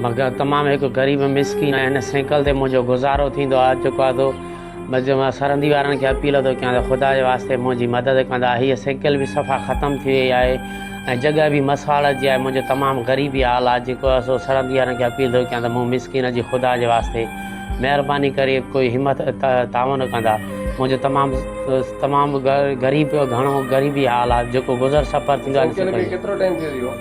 مگر تمام هڪ غريب مسڪين آهيان ان سينڪل تي منهنجو گذارو ٿيندو آهي چڪو آهي ٿو بس مان سرندي وارن کي اپيل ٿو ڪيان ته خدا جي واسطي منهنجي مدد ڪندا هيء سينڪل به صفا ختم ٿي وئي آهي ۽ جڳهه به مسواڙ جي آهي منهنجو تمام غريبي حال آهي جيڪو آهي سو سرندي وارن کي اپيل ٿو ڪيان ته مون مسڪين جي خدا جي واسطي مهرباني ڪري ڪوئي همت تعاون ڪندا منهنجو تمام تمام غريب گهڻو غريبي حال آهي جيڪو گذر سفر ٿيندو آهي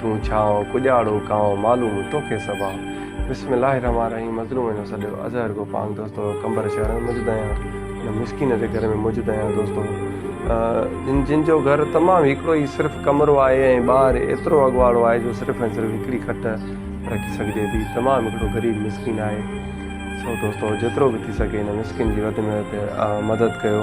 تون ڇانء، ڪڄاڙو ڪانء، معلوم توکي صبا. بسم الله الرحمٰن الرحيم مظلوم هن سڏيو اظهر گو پاڻ دوستو قمبر شهر ۾ موجود آهيان هن مسڪين جي گهر ۾ موجود آهيان دوستو جن جن جو گهر تمام هڪڙو ئي صرف ڪمرو آهي ۽ ٻاهر ايترو اڳواڙو آهي جو صرف ۽ صرف هڪڙي کٽ رکي سگهجي ٿي تمام هڪڙو غريب مسڪين آهي سو دوستو جيترو به ٿي سگهي هن مسڪين جي وڌ ۾ وڌ مدد ڪيو.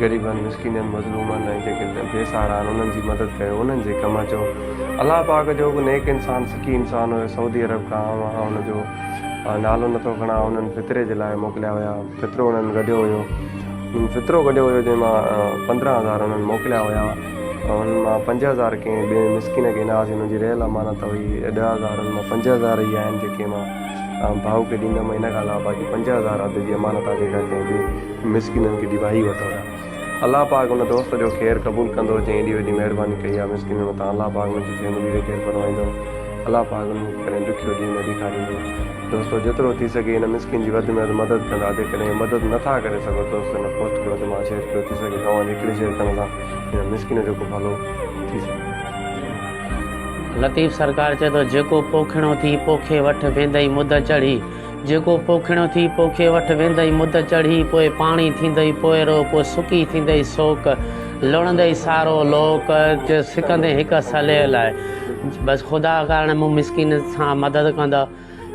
غريبن، مسڪينن، مظلومن ۽ جيڪي بي سهارا آهن انهن جي مدد ڪيو، انهن جي ڪم اچو. الله پاڪ جو هڪ نيڪ انسان سکي انسان هيو سعودي عرب کان آئون آهيان ان جو نالو نه ٿو کڻان انهن فطري جي لاء موڪليا هيا فطرو انهن گڏيو هيو انهن فطرو گڏيو هيو جنهن مان پندرهن هزار انهن موڪليا هيا انهن مان پنج هزار ڪنهن ٻئي مسڪين کي ڏناس انهن جي رهيل امانت هئي ڏهه هزار انهن مان پنج هزار ئي آهن جيڪي مان ڀائو کي ڏيندم ان کان علاوه باقي پنج هزار اڌ جي امانت آهي جيڪا ڪنهن ٻئي مسڪينن کي ڊيوائي وٺو ٿا الله پاڪ ان دوست جو خير قبول ڪندو جنهن ايڏي وڏي مهرباني ڪئي آهي مسڪينن مٿان الله پاڪ ان جي فيملي کي خير فرمائيندو الله پاڪ انهن کي ڪڏهن ڏکيو ڏينهن نه ڏيکاريندو دوستو جيترو ٿي سگهي ان مسڪين جي وڌ ۾ وڌ مدد ڪندا جيڪڏهن مدد نه ٿا ڪري سگهو دوستو ان پوسٽ کي وڌ مان شيئر ڪيو ٿي سگهي توهان جي هڪڙي شيئر ڪرڻ سان هن مسڪين جو ڪو ڀلو ٿي سگهي لطيف سرڪار چئي ٿو جيڪو پوکڻو ٿي پوکي وٺ ويندئي مد چڙهي. جيڪو پوکڻيو ٿي پوکي وٺ ويندئي مد چڙهي پوء پاڻي ٿيندئي پوئرو پوء سڪي ٿيندئي سوڪ لڻندئي سارو لوڪ جو سڪندين هڪ صليء لاء بس خدا ڪارڻ مون مسڪين سان مدد ڪندا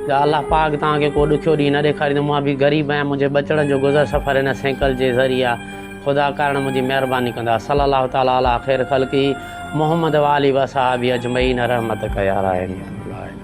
يا الله پاڪ توهان کي ڪو ڏکيو ڏينهن نه ڏيکاريندو مان به غريب آهيان منهنجي ٻچڙن جو گذر سفر هن سينڪل جي ذريعي آهي خدا ڪارڻ منهنجي مهرباني ڪندا صلي الله تعالٰي عليٰ خير خلقه محمد وآله وصحابه اجمعين رحمتڪ يا راحمين العالمين